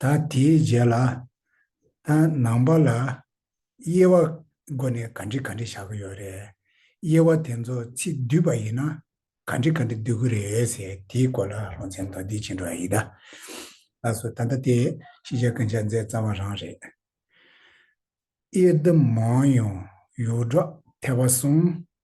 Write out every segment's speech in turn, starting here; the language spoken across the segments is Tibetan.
ད་དེའི་རྗེས་ལ། ད་ནང་པ་ལ་དབྱེ་བ་སྒོ་ནས་ག་འདྲི་ག་འདྲི་བྱ་གི་ཡོད་རེད། དབྱེ་བ་དེ་ཚོ་ཚིག་བསྡུས་པ་ཡིན་ན་ག་འདྲི་ག་འདྲི་བསྡུ་གི་རེད་ཟེར་དེའི་སྐོར་ལ་སློང་མཚན་མདོར་བསྡུས་བྱེད་འགྲོ་བ་ཡིན། ལགས་སོ། ད་ལྟ་དེ་ཤེས་བྱ་ཀུན་བྱ་རྫས་རྩ་བ་རང་རེད། དབྱེ་བསྡུ་མང་ཡང་ཡོད་འགྲོ་ཐལ་བ་གསུངས།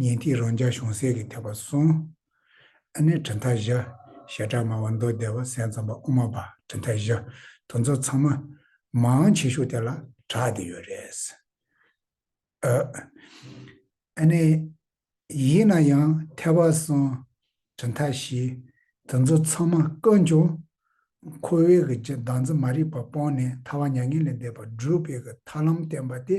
ཉན་ཐོས་རང་རྒྱལ་གཞུང་སྲས་ཀྱི་ཐེག་པ་གསུངས། ཨ་ནེ་བྲི་མཐའ་བཞི། ཞེ་དྲག་སྨྲ་བ་མདོ་སྡེ་བ་སེམས་ཙམ་པ་དབུ་མ་པ་བྲི་མཐའ་བཞི་དུ་མཚོ་ཚང་མ། མང་ཆེ་ཤོས་དེ་ལ་གྲགས་བསྡད་ཡོད་རེད། ཨ་ནེ། ཡིན་ན་ཡང་ཐེག་པ་གསུམ། བྲི་མཐའ་བཞི། དུ་མཚོ་ཚང་མ་བཀའ་འབྱུང། ཁོ་བོའི་གི་གདངས་ཚིག་མ་རིག་པ་སྤོང་ནས་ཐར་བ་མྱ་ངན་ལས་འདས་པ་སྒྲུབ་པའི་གི་ཐར་ལམ་བསྟན་པ་དེ་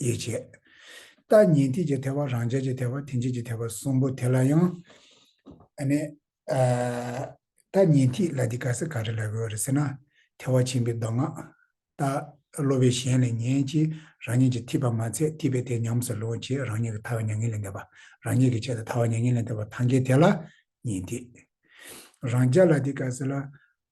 ཡིད་བྱེད། ལྟ་ཉན་ཐིག་གི་ཐེག་པ་རང་རྒྱལ་གྱི་ཐེག་པ་ཐིག་འབྱེད་ཀྱི་ཐེག་པ་གསུམ་པོ་དེ་ལ་ཡང། ལྟ་ཉན་ཐིག་ལ་དེ་ག་ས་ག་རེ་ལ་རོལ་བ་རེད་ཟེར་ན། ཐལ་བ་ཆེན་པོའི་མདོ་སྔགས། ལྟ། སློབ་པའི་གཞན་ལས་ངན་གྱིས་རང་ཉིད་ཀྱི་ཐིག་པ་མ་ཚད་ཐིག་པའི་དེ་ཉམས་སུ་ལོངས་ཀྱིས་རང་ཉིད་ཀྱི་ཐར་བ་མྱ་ངན་ལས་འདས་པ་རང་ཉིད་ཀྱིས་བྱས་ཏེ་ཐར་བ་མྱ་ངན་ལས་འདས་པ་ཐང་གའི་དེ་ལ་ཉན་ཐིག། རང་རྒྱལ་ལ་དེ་ག་ས་ལ་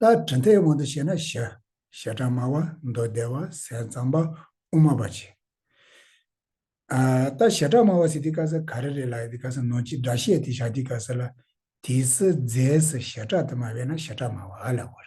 ལྟར་དྲི་མཐའི་དབང་དུ་བྱས་ན་ཞི། ཞེ་སྡང་དམའ་བ་མདོ་སྡེ་བ་ཟས་གཙང་པ་དབུ་མ་པ་བྱེད། ལྟར་ཞེ་དྲག་དམའ་བ་སི་ཏི་ཀ་ས་ག་རེ་རེ་ལ་ཨི་ཏི་ཀ་ས་ནོ་ཅི་སྒྲ་བཤད་དེ་ཤཱ་ཏི་ཀ་ས་ལ་དེའི་སི་ཛས་སི་ཞེ་དྲག་དུ་མ་བས་ན་ཞེ་དྲག་དམའ་བ་ཨ་ལ་བར།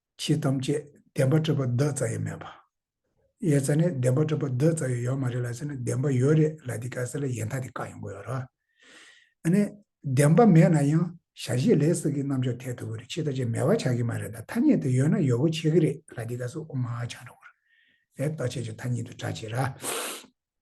ཕྱིས་ཐམས་ཅད་བདེན་པ་སྤྲོས་པ་བདག་རྩ་ཡས་མེད་པ། ཡས་རྩ་ནི་བདེན་པ་སྤྲོས་པ་བདག་རྩ་ཡོད་ཡོད་མ་རེད་ལ་ཟེར་ན་བདེན་པ་ཡོད་རེད་ལ་འདི་ག་ས་ལ་ཡས་མཐའ་དེ་ཀ་ཡོང་གི་ཡོད་རོ། ཨ་ནི། བདེན་པ་མེད་ན་ཡང་ཞར་བཞི་ལས་སྲིད་ཀྱི་རྣམ་འཇོག་འཐད་ཐུབ་ཀྱི་རེད་ཕྱིས་ད་ཆ་མེད་པ་ཆགས་ཀྱི་མ་རེད་ད་ཐ་སྙད་དུ་ཡོད་ན་ཡོད་གོ་ཆེ་གི་རེད་ལ་འདི་ག་ས་དབུ་མ་ཆང་འདྲ་བོ་རེད། རྟོག་བྱེད་ཀྱི་མཐའ་གཉིས་དུ་གྲགས་ཆེ་ར།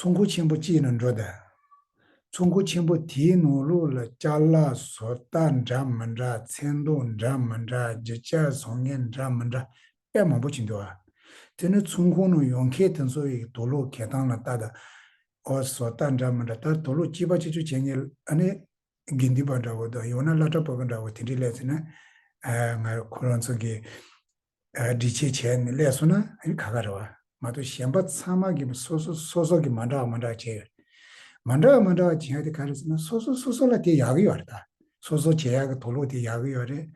ཚོགས་མགོ་ཆེན་པོ་གཅིག་ལ་འགྲོ་བསྡད། ཚོགས་མགོ་ཆེན་པོ་དེའི་ནོར་ལུག་ལ་བཅའ་ལག་བཟོ་ལྟ་འདྲ་མི་འདྲ་མཚན་མདོག་འདྲ་མི་འདྲ་བརྗིད་ཆགས་བཟོ་ངན་འདྲ་མི་འདྲ་དཔེ་མང་པོ་བྱིན་འདུག་ཨ། དེ་ནི་ཚོགས་མགོ་ནང་ཡོང་མཁན་དེ་ཚོ་ཡི་དོ་ལུག་གད་སྟངས་ལ་བལྟ་ད། ཨོ་བཟོ་ལྟ་འདྲ་མི་འདྲ་ད་དོ་ལུག་སྐྱིད་པ་ཆེ་ཆུ་བྱེད་ངེས་ལ་ཨ་ནི། དགེ་འདུན་པ་འདྲ་བོ་དང་ཡང་ན་བླ་གྲྭ་པོ་པོ་འདྲ་བོ་དེ་འདྲའི་སླད་ཚོད་ན། ཨ། ང་རང་ཚོ་གི། འདྲི་བྱེད་བྱས་ནས་ཀླད་སོང་ན་ཨ་ག་ག་རེད་བ་མ་གཏོགས་གཞན་པ་ཚང་མ་གི་སོ་སོ་སོ་སོ་གི་མ་འདྲ་བ་མ་འདྲ་བ་བྱས་ཡོད་མ་འདྲ་བ་མ་འདྲ་བ་བྱས་ཏེ་ག་རེད་ཟེར་ན་སོ་སོ་སོ་སོ་ལ་དེ་ཡག་གི་ཡོད་རེད་ད་སོ་སོ་བྱས་ཡག་གི་དོགས་ལུགས་དེ་ཡག་གི་ཡོད་རེད་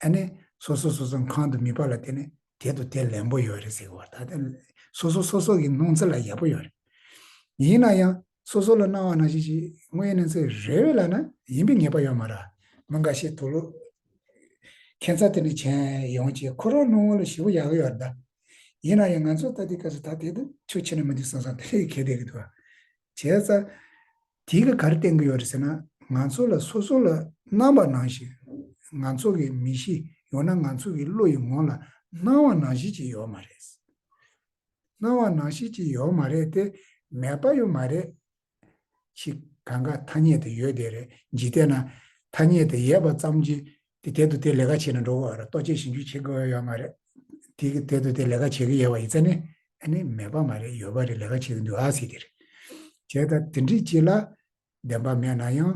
ཨ་ནི་སོ་སོ་སོ་སོ་གང་དུ་མི་པ་ལ་བལྟས་ནས་དེ་དང་དེ་ལན་པོ་ཡོད་རེད་ཟེར་གི་བ་ད་དེ་སོ་སོ་སོ་སོ་གི་སྣང་ཚུལ་ལ་ཡག་པོ་ཡོད་རེད་ཡིན་ན་ཡང་སོ་སོ་ལ་སྣང་བ་ན་ཞིག་ཅིག་དངོས་ཡིན་ན་ཚེ་རེ་བས་ལ་ན་ཡིན་པའི་ངེས་པ་ཡོད་མ་ར་མོ་འགའ་ཤས་དུ་ལོ། ཁྱད་མཚར་དེ་ནི་བྱན་ཡོང་ཅིག་ཁོ་རང་རྣོ་ངོ་ལ་ཞི་བོ་ཡག་ཡོད་ར། ཡིན་ན་ཡང་ང་ཚོ་ལྟ་དེའི་སྐབས་སུ་ད་དེ་དུ་ཆོ་ཆེ་ན་མི་འདུག་བསམ་བསམ་དེ་ལས་གལ་ཏེ་གི་འདུག་ཨ། བྱས་ཙ། དེ་གི་ག་རེ་བསྟན་གི་ཡོད་རེད་ཟེར་ན་ང་ཚོ་ལ་སོ་སོ་ལ་སྣང་བ་ན་ཞིག་ང་ཚོ་གི་མི་གཤིས་ཡོང་ན་ང་ཚོ་གི་བློ་ཡི་ངོ་ལ་སྣང་བ་ན་ཞིག་ཅིག་ཡོད་མ་རེད། སྣང་བ་ནང་ཤེས་ཀྱི་ཡོད་མ་རེད་དེ། མེད་པ་ཡོད་མ་རེད། ཅིག། གང་གཱ་ཐ་སྙད་དེ་ཡོད་དེ་རེད་འཇིག་རྟེན་ན། ཐ་སྙད་དེ་ཡོད་པ་ཙམ་གྱིས་དེ་དེ་དུ་དེ་ལས་ཀ་བྱེད་ན་འགྲོ་གི་ཨ་རོ་ལྟོ་ཆས་ཞིམ་ཆུ་བྱེད་དགོས་ཡོད་མ་རེད། དེ་དེ་དུ་དེ་ལས་ཀ་བྱེད་གི་ཡོད་པ་ཡིན་ཚ་ནི། ཨ་ནི་མེད་པ་མ་རེད་ཡོད་པ་རེད་ལས་ཀ་བྱེད་གི་འདུག་ཨ་སི་དེ་རེད། བྱས་ད་དེ་འདྲི་གྱིས་ལ། བདེན་པ་མེད་ན་ཡང།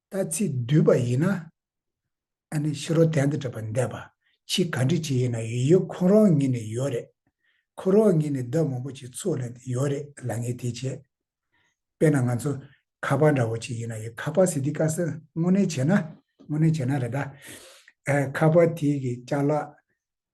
ལྟ་ཚིག་བསྡུས་པ་ཡིན་ན། ཨ་ནི་ཕྱི་རོལ་དན་དུ་བྲིས་པ་འདས་པ་ཕྱིས་ག་འབྲི་བྱེད་ཡིན་ན་ཡོད་ཡོད་ཁོ་རང་ཉིད་ནས་ཡོད་རེད། ཁོ་རང་ཉིད་ནས་བདག་མང་པོ་ཅིག་ཚུགས་ལེན་དུ་ཡོད་རེད་ལ་ངས་དེ་བྱེད། དཔེར་ན་ང་ཚོ་ཁ་པར་འདྲ་བོ་ཅིག་ཡིན་ན་ཡོད་ཁ་པར་ཟེར་དུས་དཀའ་སེ་དངོས་གནས་བྱས་ན་དངོས་གནས་བྱས་ན་རེད་ད། ཁ་པར་དེའི་གི་ལྕགས་ལ།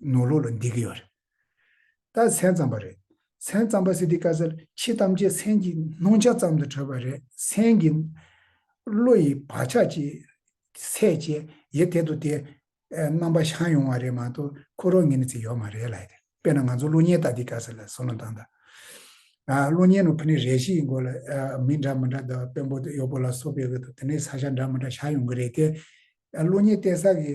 ནོར་ལོག་ལ་འདེད་ཀྱི་ཡོད་རེད། ད་མཚན་བརྩམས་པ་རེད། མཚན་བརྩམས་པ་སི་ཏི་ཀ་སེར་ཕྱི་ཐམས་ཅད་མཚན་གྱི་སྣང་ཆ་ཙམ་དུ་གྲོལ་བ་རེད་མཚན་གྱི། བློ་ཡི་བག་ཆགས་ཀྱི། ཚད་བཅས་ཡེ་དེ་དུ་དེ། རྣམ་པ་བྱང་ཡོང་བ་རེད་མ་གཏོགས་ཁོ་རང་ངེད་ནི་ཚེ་ཡོད་མ་རེད་ལ་ཡེ། དཔེར་ན་ང་ཚོ་གློག་བརྙན་ལྟ་སྟེ་ཀ་སེར་ལ་སོ་ནམ་དང། གློག་བརྙན་ནང་ཕུ་ནུ་རེ་ཞིག་གི་མགོ་ལ་མི་འདྲ་མི་འདྲ་དང་དཔོན་པོ་གཡོག་པོ་ལ་སོགས་པའི་དབུ་དང་དེ་ནས་ས་ཞྭ་འདྲ་མི་འདྲ་བཞག་ཡོང་གི་རེད་དེ། གློག་བརྙན་བལྟས་ས་ཀྱི་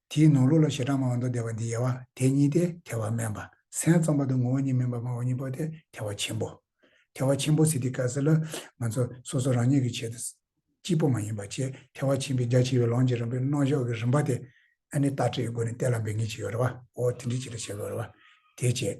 དེའི་ནང་ལུགས་ལ་བྱེ་བྲག་སྨྲ་བ་མདོ་སྡེ་བ་འདི་ཡལ་བ་དེ་གཉིས་ཏེ་ཐལ་བ་དམན་པ་སེམས་རྩོམ་པ་དང་ངོ་བོ་ཉིད་མིན་པར་སྨྲ་བ་གཉིས་པོ་སྟེ་ཐལ་བ་ཆེན་པོ། ཐལ་བ་ཆེན་པོ་ཟེར་དུས་གལ་སྲིད་ལ་ང་ཚོ་སོ་སོ་རང་ཉིད་ཀྱི་ཆེད་དུ་གཅིག་པོ་མ་ཡིན་པ་ཆེས་ཐལ་བ་ཆེན་པོའི་རྒྱ་ཆེ་བའི་ལོངས་ཀྱི་རིམ་པའི་རྣོ་གཞོག་གི་རིམ་པ་དེ་ཨ་ནི་ལྟ་སྤྲོད་ཀྱི་སྒོ་ནས་གཏད་ལ་འབད་ངེས་ཅི་ཡོད་རེ་བའོ་དེ་འདྲའི་ཆེད་དུ་བྱེད་དགོས་རེ་བ་དེ་བྱེད།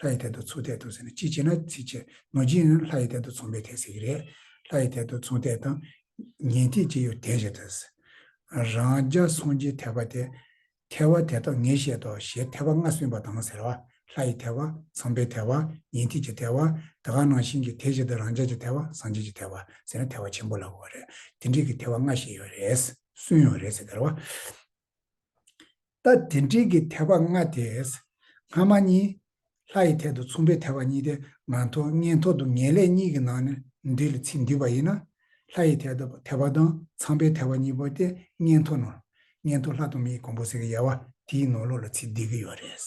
ལྷ་ཡི་དལ་དུ་མཚུངས་དལ་དུ་ཟེར་ནས་ཅི་བྱེད་ན་ཚིག་ཕྱིར་ནོར་གྱིས་ཡང་ལྷ་ཡི་དལ་དུ་མཚུངས་པའི་དལ་ཟེར་གྱི་རེད། ལྷ་ཡི་དལ་དུ་མཚུངས་དལ་དང། ཉན་ཐོས་ཀྱི་ཡུལ་དལ་ཞེས་ཐལ། རང་རྒྱ་སངས་རྒྱས་ཐལ་བ་དེ། ཐལ་བ་དེ་དག་ངས་བཤད་དོ་ཞེས་ཐལ་བ་ལྔ་གསུངས་པ་དང་ཟེར་བ། ལྷ་ཡི་ཐལ་བ། ཚངས་པའི་ཐལ་བ། ཉན་ཐོས་ཀྱི་ཐལ་བ། དེ་ག་ནང་བཞིན་གྱི་དལ་ཞིག་དང་རང་རྒྱ་ཀྱི་ཐལ་བ་སངས་རྒྱས་ཀྱི་ཐལ་བ་ཟེར་ནས་ཐལ་བ་ཆེན་པོ་ལ་གོ་བ་རེད། དེ་འདྲིས་ཀྱི་ཐལ་བ་ལྔ་བཤད་ཡོད་རེད། སུན་ཡོད་རེད་ཟེར་བ། ལྟ། དེ་འབྲེལ་གྱི་དད་པ་ལྔ་དེས། སྔ་མ་གཉིས། ལྷ་ཡི་ཐད་དུ་མཚུངས་པའི་དད་པ་གཉིས་ཏེ་ང་ཐོག་ངན་ཐོག་ཏུ་ངན་ལས་གཉིས་ཀྱི་ནང་ནས་འདི་ལ་ཚིག་འདུས་པ་ཡིན་ན། ལྷ་ཡི་ཐད་དུ་དད་པ་དང་ཚངས་པའི་དད་པ་གཉིས་པོ་སྟེ་ངན་ཐོག་ནོར། ངན་ཐོག་ལྷ་དང་མིའི་གོང་བུ་ཟེར་གྱི་ཡལ་བ་དེའི་ནོར་ལོག་ལ་ཚིག་འདུས་ཀྱི་ཡོད་རེད།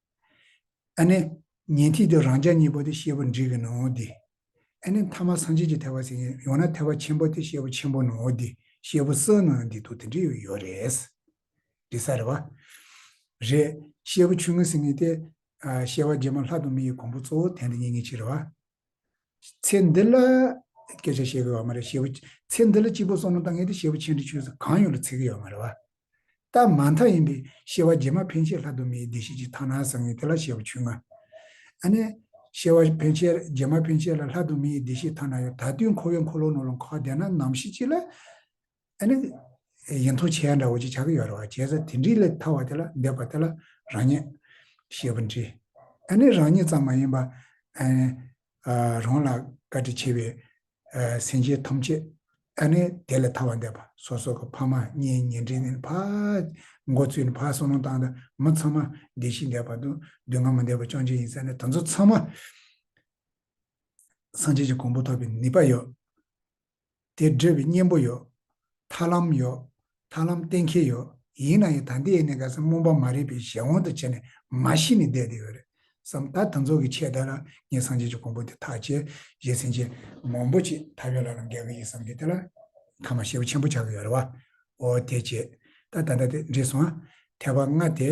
ཨ་ནི། ཉན་ཐོས་ཀྱི་རང་ཅག་གཉིས་པོ་དེ་ཤེས་པ་འདྲིས་ཀྱི་ནོའོ་འདི། ཨ་ནི། ཐ་མ་སངས་རྒྱས་ཀྱི་ཐེག་པ་ཟིན་ཡང་ན་ཐེག་པ་ཆེན་པོ་དེ་ཤེས་པ་ཆེན་པོ་ནོའོ་འདི་ཤེས་པ་སོ་ནའོ་འདི་དུ་དེ་འདྲི་ཡོད་ཡོད་རེད། འདི་ས་རེད་བ། རེད། ཤེས་པ་ཆུང་ངུ་ཟིན་ངེས་ཏེ། ཤེས་པ་རྗེས་མ་ལྷ་དང་མི་ཡི་གོང་བུ་གཙོ་བོ་དེ་འདི་ཉིད་ངེས་ཕྱིར་རེད་བ། ཚེ་འདི་ལ། སྐད་ཆ་བཤད་གི་ཡོད་མ་རེད། ཤེས་པ། ཚེ་འདི་ལ་གཅིག་པོ་གསུམ་ལ་བཏང་ངེས་ཏེ་ཤེས་པ་ཆེན་འདི་ཆོས་ཚུལ་གང་ཡོད་ལ་ཚིག་གི་ཡོད་མ་རེད་བ། སྟབས་མ་མཐའ་ཡིན་པས་ཤེས་བ་རྗེས་མ་ཕན་ཆད་ལྷ་དུ་མའི་བདེ་གཤེགས་ཀྱི་དག་སྣང་བཟང་ངན་དེ་ལ་ཤེས་པ་ཆུང་ང། ཨ་ནི། ཤེས་བ་ཕན་ཆད་རྗེས་མ་ཕན་ཆད་ལ་ལྷ་དུ་མའི་བདེ་གཤེགས་དག་སྣང་ཡོད་ད་དུས་འཁོར་བའི་འཁོར་ལོ་ནོར་ལ་འཁོར་བ་བདེ་སྣང་ནམ་ཤི་ཅི་ལ། ཨ་ནི། ཡིན་མཐོང་བྱེད་ཡ་འདྲ་བོ་ཅིག་ཆགས་ཀྱི་ཡོད་རེད་བ་བྱས་ཙང་དེ་འདྲིས་ལས་ཐར་བ་དེ་ལ་འདས་པ་དེ་ལ་རང་ཉིད། ཤེས་པ་འདྲི། ཨ་ནི་རང་ཉིད་ཙམ་མ་ཡིན་པ། ཨ་ནི། རང་ལ་བཀའ་དྲིན་ཆེ་བའི། སེམས་ཅན་ཐམས་ཅད་ཨ་ནི་དེ་ལས་ཐར་བར་འདོད་པ། སོ་སོ་གི་ཕ་མ་གཉེན་ཉེ་འབྲེལ་ནི་ཕ། འགོ་བཙུན་ནི་ཕ་གསོ་རླུང་བཏང་དང་མི་ཚང་མ། བདེ་སྐྱིད་འདས་པ་དང་སྡུག་བསྔལ་མི་འདས་པ་བཅོམ་ལྡན་ཡིན་ས་ནི་དོན་ཚོགས་ཚང་མ། སངས་རྒྱས་ཀྱི་གོང་བུ་ཐོབ་པའི་ནུས་པ་ཡོད། དེ་འབྲེལ་བའི་གཉེན་པོ་ཡོད། ཐར་ལམ་ཡོད། ཐར་ལམ་གཏན་འཁེལ་ཡོད། ཡིན་ན་ཡང་ད་འདི་ཡེ་ནས་ག་ས་སྨོན་པ་མ་རེད་པའི་གཞན་དབང་དུ་བྱས་ནས་མ་ཤི་ནས་བསྡད་དེ་ཡོད་རེད་བསམ། ད་དང་ཚོགས་ཀྱི་ཆེད་ད་ལ་ངས་སངས་རྒྱས་ཀྱི་གོང་བུ་དེ་ཐག་བཅད་རྗེས་སེམས་ཅན་མང་པོ་ཅིག་ད་བས་ལ་ལ་འགལ་གྱི་ཡིན་བསམ་གྱི་དེ་ལ་ཁ་མ་ཤེས་པ་ཆེན་པོ་ཆགས་ཀྱི་ཡོད་རེད་བ། འོ་དེ་རྗེས་ད་ད་ལྟ་དེ་འདྲེས་སོང་ཨ། ཐལ་བ་ལྔ་དེ།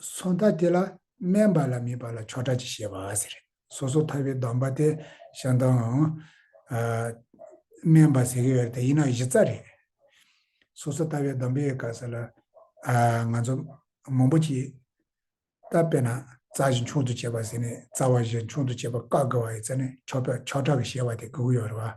སོ་མཐའ་དེ་ལ་སྨན་པ་ལ་མིན་པ་ལ་ཆོ་གྲ་གྱི་བཤད་པ་ཟེར་རེད། སོ་སོ་མཐའ་བའི་གདམས་པ་དེ་ཤང་ཏང་ཨང། སྨན་པ་ཟེར་གི་ཡོད་དེ་ཡིན་ན་གཞི་རྩ་རེད། སོ་སོ་མཐའ་བའི་གདམས་པའི་སྐབས་སུ་ལ་ང་ཚོ་མང་པོ་གྱིས་ད་དཔེར་ན་རྩ་བཞི་མཆོག་ཏུ་བྱེད་པ་ཟེར་ནས་རྩ་བ་བཞི་མཆོག་ཏུ་བྱེད་པ་བཀག་དགོས་པ་ཡིན་ཟེར་ནས་ཆོ་གྲ་གི་བཤད་པ་དེ་དགོས་ཀྱི་ཡོད་རེད་བ།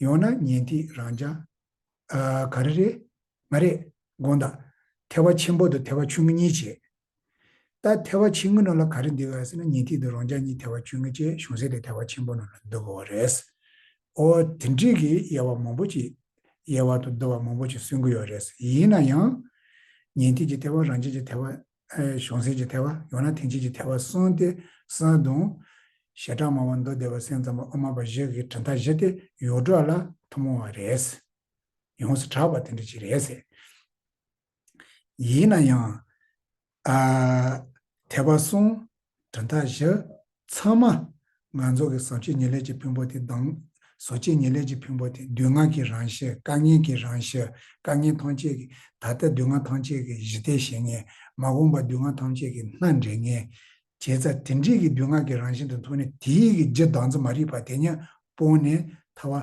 ཡོང་ན་ཉན་ཐིག་རང་བྱ། ག་རེ་རེད། མ་རེད། དགོངས་དག། ཐལ་བ་ཆེན་པོ་དང་ཐལ་བ་ཆུང་ངུ་གཉིས་བྱེད། ད་ཐལ་བ་ཆེན་ངུ་ནང་ལ་ག་རེ་འདུས་ཡོད་ཟེར་ན་ཉན་ཐིག་དང་རང་བྱ་གཉིས་ཐལ་བ་ཆུང་ངུ་བཅས་གཞུང་ཟེར་དེ་ཐལ་བ་ཆེན་པོ་ནང་ལ་འདུ་དགོས་བ་རེད། ཨོ། དེ་འགྲིག་གི་དབྱེ་བ་མང་པོ་ཅིག། དབྱེ་བ་དང་བསྡུ་བ་མང་པོ་ཅིག་སོན་གི་ཡོད་རེད། ཡིན་ན་ཡང། ཉན་ཐིག་གི་ཐལ་བ་རང་བྱ་གྱི་ཐལ་བ་གཞོང་སེན་གྱི་ཐལ་བ་ཡོང་ན་དེང་ཕྱིན་གྱི་ཐལ་བ་སོང་སྟེ་སོན་བརྡུང། ཞེ་དྲག་སྨྲ་བ་མདོ་སྡེ་པ་སེང་ཙམ་པ་ཨོ་མ་པ་བཞི་གིས་གྲི་མཐའ་བཞི་སྟེ་ཡུག་སྒྲོག་ལ་ཐུན་མོང་བ་རེད། ཡོངས་སུ་གྲགས་པ་དེ་འདྲ་ཅིག་རེད་ཟེར། ཡིན་ན་ཡང། ཨ། ཐལ་བ་སོང། དོན་དག་བཞི། ཚང་མ། ང་ཚོ་གི་བཟོ་བཅོས་ཉེར་ལེགས་ཀྱི་ཕུང་པོ་དེ་དང། བཟོ་བཅོས་ཉེར་ལེགས་ཀྱི་ཕུང་པོ་དེ་སྡུག་བསྔལ་གྱི་རང་བཞིན་དཀའ་ངལ་གྱི་རང་བཞིན་དཀའ་ངལ་ཐམས་ཅད་ཀྱི་ད་ལྟ་སྡུག་བསྔལ་ཐམས་ཅད་ཀྱི་གཞི་ལྟའི་ཞེན་ངེས་མ་འོངས་པ་སྡུག་བསྔལ་ཐམས་ཅད་ཀྱི་སྣ་འདྲེན་ངེས། བྱས་ཙ་དེ་འདྲིས་ཀྱི་སྡུག་བསྔལ་གྱི་རང་བཞིན་དུ་མཐོང་ནས་དེའི་གི་རྗེས་ལྡང་ཚོ་མ་རིག་པ་དེ་ཉན་སྤོང་ནས་ཐར་བ།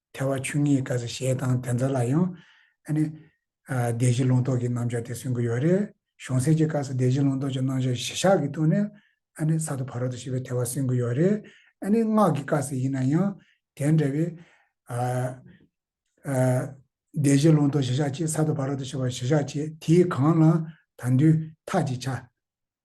ཐལ་བ་ཆོས་ཉིད་ཀ་ཟེར་ཞེས་དང་དེ་ཚོ་ལ་ཡང། ཨ་ནི། བདེ་གཞི་ལུང་རྟོགས་ཀྱི་རྣམ་གཞག་དེ་གསུང་གི་ཡོད་རེད། གཞུང་གསལ་གྱི་སྐབས་སུ་བདེ་གཞི་ལུང་རྟོགས་ཀྱི་རྣམ་གཞག་གཞི་གཞག་གི་སྟོང་ནས། ཨ་ནི་ས་དང་བར་དོ་ཞེས་པའི་ཐལ་བ་གསུང་གི་ཡོད་རེད། ཨ་ནི་སྔགས་ཀྱི་སྐབས་སུ་ཡིན་ན་ཡང། དེ་འདྲ་བའི། བདེ་གཞི་ལུང་རྟོགས་གཞི་གཞག་ཅེས་ས་དང་བར་དོ་ཞེས་པ་གཞི་གཞག་ཅེས་དེའི་གང་ལའང་དང་དུས་ཐག་ཅིག་ཆ།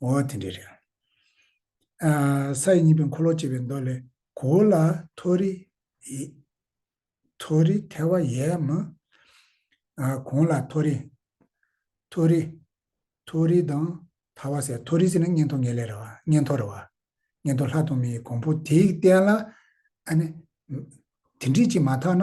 འོ་དེ་འདྲས་རེད། ས་ཡི་གཉིས་པའི་འཁོར་ལོ་ཅེས་པའི་མདོ་ལས། གོ་བོ་ལ། མཐོ་རི། མཐོ་རི་ཐལ་བ་ཡས་མ། གོང་ལ་མཐོ་རི། མཐོ་རི། མཐོ་རི་དང་ཐལ་བ་ཟེར། མཐོ་རི་ཟེར་ན་སྙན་ཐོ་ངེས་ལེ་རེད་བ། སྙན་ཐོ་རེད་བ། སྙན་ཐོ་ལྷ་དང་མི་ཡི་གོང་བུ་དེའི་སྟེང་ལ། ཨ་ནི། དེ་འདྲས་ཅིག་མ་ཐག་ན།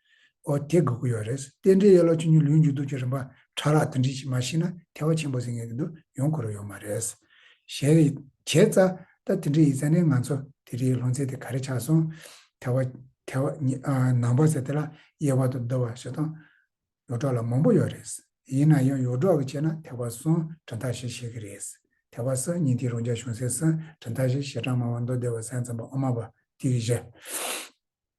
ཨོ་དེ་དགོས་ཀྱི་ཡོད་རེད། རྟེན་འབྲེལ་ཡོད་ལ་ཆུ་ཉུལ་ལུས་མཇུག་བསྡུ་རྒྱུ་རིམ་པ་ཕྲ་རགས་འདི་འདྲིས་ཤིག་མ་ཤེས་ན་ཐལ་བ་ཆེན་པོ་ཟིན་ངེས་ཀྱི་འདུག་ཡོང་དགོས་རོགས་ཡོད་མ་རེད། ཞེ། བྱས་ཙ། ད་དེ་འདྲི་ཡི་ཙ་ནས་ང་ཚོ་དེ་འདྲིའི་ལོ་ཚད་དེ་ག་རེ་ཆགས་སོང། ཐལ་བ། ཐལ་བ། ནང་པ་ཟེར་དེ་ལ་གཡས་བར་དུ་བརྡོལ་བ་ཞེ་སྡང། ཡོ་གྲོགས་ལ་མང་པོ་ཡོད་རེད། ཡིན་ན་ཡང་ཡོ་གྲོགས་ཀྱི་ཆེད་ན་ཐལ་བ་སོང་གྲ་མཐའ་ཞེས་བཤད་ཀྱི་རེད། ཐལ་བ་སང་ཉིན་དེའི་རོང་རྒྱ་གཞུང་སེང་སང་གྲ་མཐའ་ཞེས་ཞེ་དྲག་སྨྲ་བ་མདོ་སྡེ་བ་སེང་ཙམ་པ་ཨོ་མ་པ་དེ་གྱིས་བཤད།